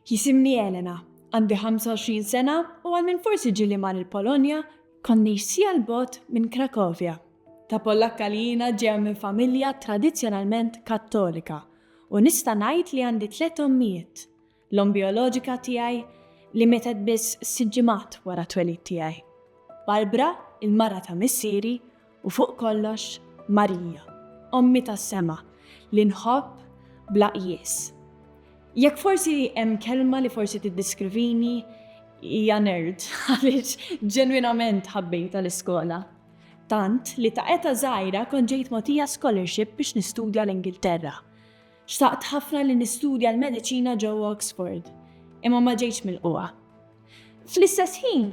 Jisimni Elena, għandi 25 sena u għal minn forsi ġili mar il-Polonja konni xsija l-bot minn Krakovja. Ta' Pollakka li jina ġeja minn familja tradizjonalment kattolika u nista' ngħid li għandi tliet ommijiet. L-omm bijoloġika tiegħi li mietet biss sitt ġimgħat wara t-twelid tiegħi. Barbara, il-mara ta' missieri, u fuq kollox, Marija, ommi tas-sema, li nħobb bla qjies. Jekk forsi hemm kelma li forsi tiddiskrivini, hija nerd għaliex ġenwinament ħabbejta l-iskola. Tant li ta' eta' żgħira kont ġejt mogħtija scholarship biex nistudja l-Ingilterra. Xtaqt ħafna li nistudja l-mediċina ġewwa Oxford, imma ma ġejtx milqugħa. Fl-istess ħin,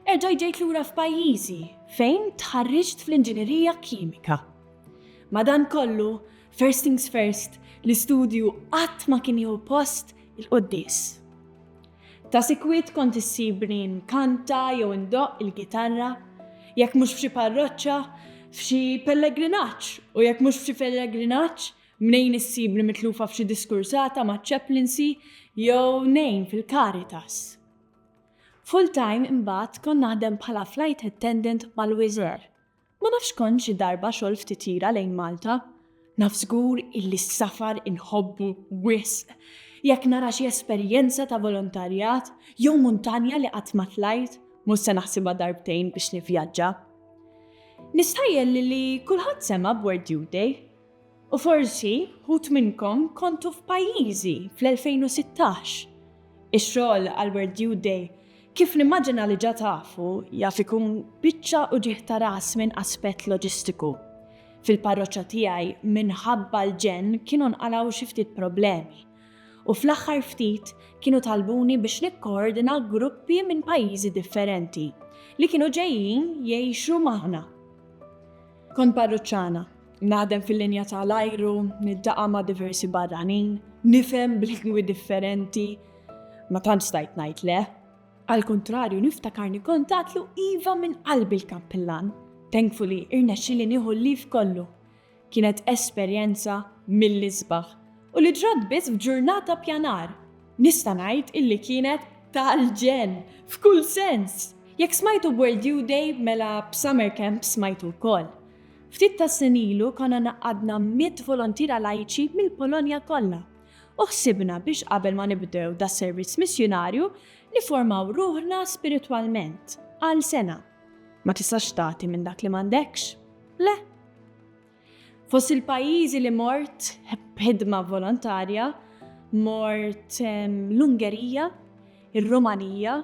erġajt ġejt lura f'pajjiżi fejn tħarriġt fl-inġinerija kimika. Madankollu, first things first, l-istudju qatt ma kien jieħu post il-quddies. Ta' sikwit kont issibni nkanta jew indoqq il-gitarra, jekk mhux f'xi parroċċa, f'xi pellegrinaġġ u jekk mhux f'xi pellegrinaġġ, Mnejn issibni mitlufa f'xi diskursata maċ-chaplaincy jew ngħin fil-Caritas. Full-time imbagħad kont naħdem bħala flight attendant mal-Wizz Air. Ma nafx kont xi darba xogħol ftit tira lejn Malta. Naf żgur illi s-safar inħobbu wisq. Jekk nara xi esperjenza ta' volontarjat jew muntanja li qatt ma tlajt, mhux se naħsibha darbtejn biex nivvjaġġa. Nistħajjel li kulħadd sema' b'World Youth Day. U forsi wħud minnkom kontu f'pajjiżi fl-2016. Ix-xogħol għal World Youth Day, kif nimmaġina li ġa tafu, jaf ikun biċċa uġigħ ta' ras minn aspett loġistiku. Fil-parroċċa tiegħi minħabba l-ġenn kienu nqalgħu xi ftit problemi. U fl-aħħar ftit kienu talbuni biex nikkoordina gruppi minn pajjiżi differenti li kienu ġejjin jgħixu magħna. Kont parruċċana, naħdem fil-linja ta' l-ajru, niltaqa' ma' diversi barranin, nifhem b'lingwi differenti, ma tantx stajt ngħid le. Għall-kuntrarju niftakarni kont għadtlu iva minn qalbi l-Kappillan, thankfully irnexxieli nieħu l-leave kollu. Kienet esperjenza mill-isbaħ. U li ġrat biss f'ġurnata pjanar. Nista' ngħid illi kienet tal-ġenn, f'kull sens! Jekk smajtu b'World Youth Day mela b'Summer Camp smajtu wkoll. Ftit tas-snin ilu konna ngħaqqadna mitt volontiera lajċi mill-Polonja kollha u ħsibna biex qabel ma nibdew das-servizz missjunarju nifformaw ruħna spiritwalment għal sena. Ma tistax tagħti minn dak li m'għandekx, le? Fost il-pajjiżi li mort b'ħidma volontarja mort ehm, l-Ungerija, ir-Rumanija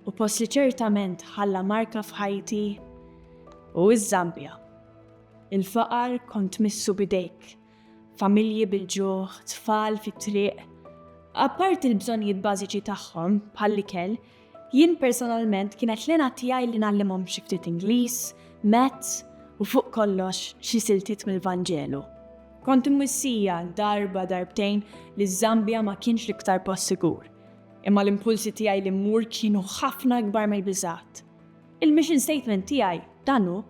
u post li ċertament ħalla marka f'ħajti hu ż-Żambja. Il-faqar kont tmissu b'idejk, familji bil-ġuħ, tfal fit-triq. Apparti l-bżonnijiet bażiċi tagħhom bħall-ikel, Jien personalment kienet l-għena tiegħi li ngħallimhom xi ftit Ingliż, Maths u fuq kollox xi siltiet mill-Vanġelu. Kont imwissija darba darbtejn li ż-Żambja ma kienx l-iktar post sigur, imma l-impulsi tiegħi li mmur kienu ħafna ikbar mill-biżgħat. Il-mission statement tiegħi dan hu,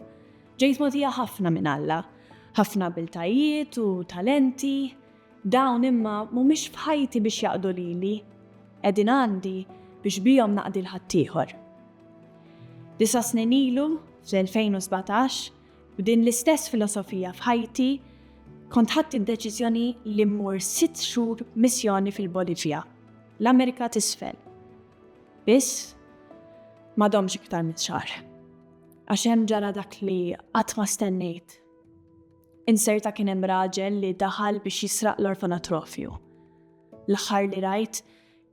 Ġejt mogħtija ħafna minn Alla, ħafna abiltajiet u talenti, Dawn imma mhumiex f'ħajti biex jaqdu lili, qegħdin għandi biex bihom naqdi 'l ħaddieħor. Disa' snin ilu, fl-2017, b'din l-istess filosofija f'ħajti, kont ħadt id-deċiżjoni li mmur sitt xhur missjoni fil-Bolivja, l-Amerika t'Isfel. Biss, ma domx iktar minn xahar. Għax hemm ġara dak li qatt ma stennejt. Inserta kien hemm raġel li daħal biex jisraq l-orfanatrofju. L-aħħar li rajt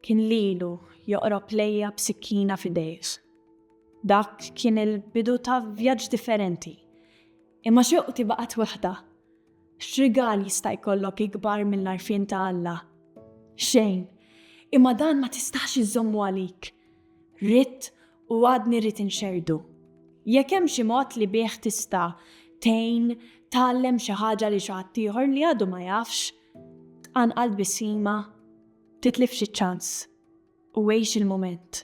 kien lilu joqrob lejja b'sikkina f'idejh. Dak kien il-bidu ta' vjaġġ differenti. Imma xewqti baqgħet waħda. X'rigal jista' jkollok ikbar mill-għarfien ta' Alla? Xejn! Imma dan ma tistax iżżommu għalik. Ridt u għadni rrid inxerrdu. Jekk hemm xi mod li bih tista' tgħin tgħallem xi ħaġa lil xi ħadd ieħor li għadu ma jafx, tqanqal tbissima, titlifx iċ-ċans u għix il-mument.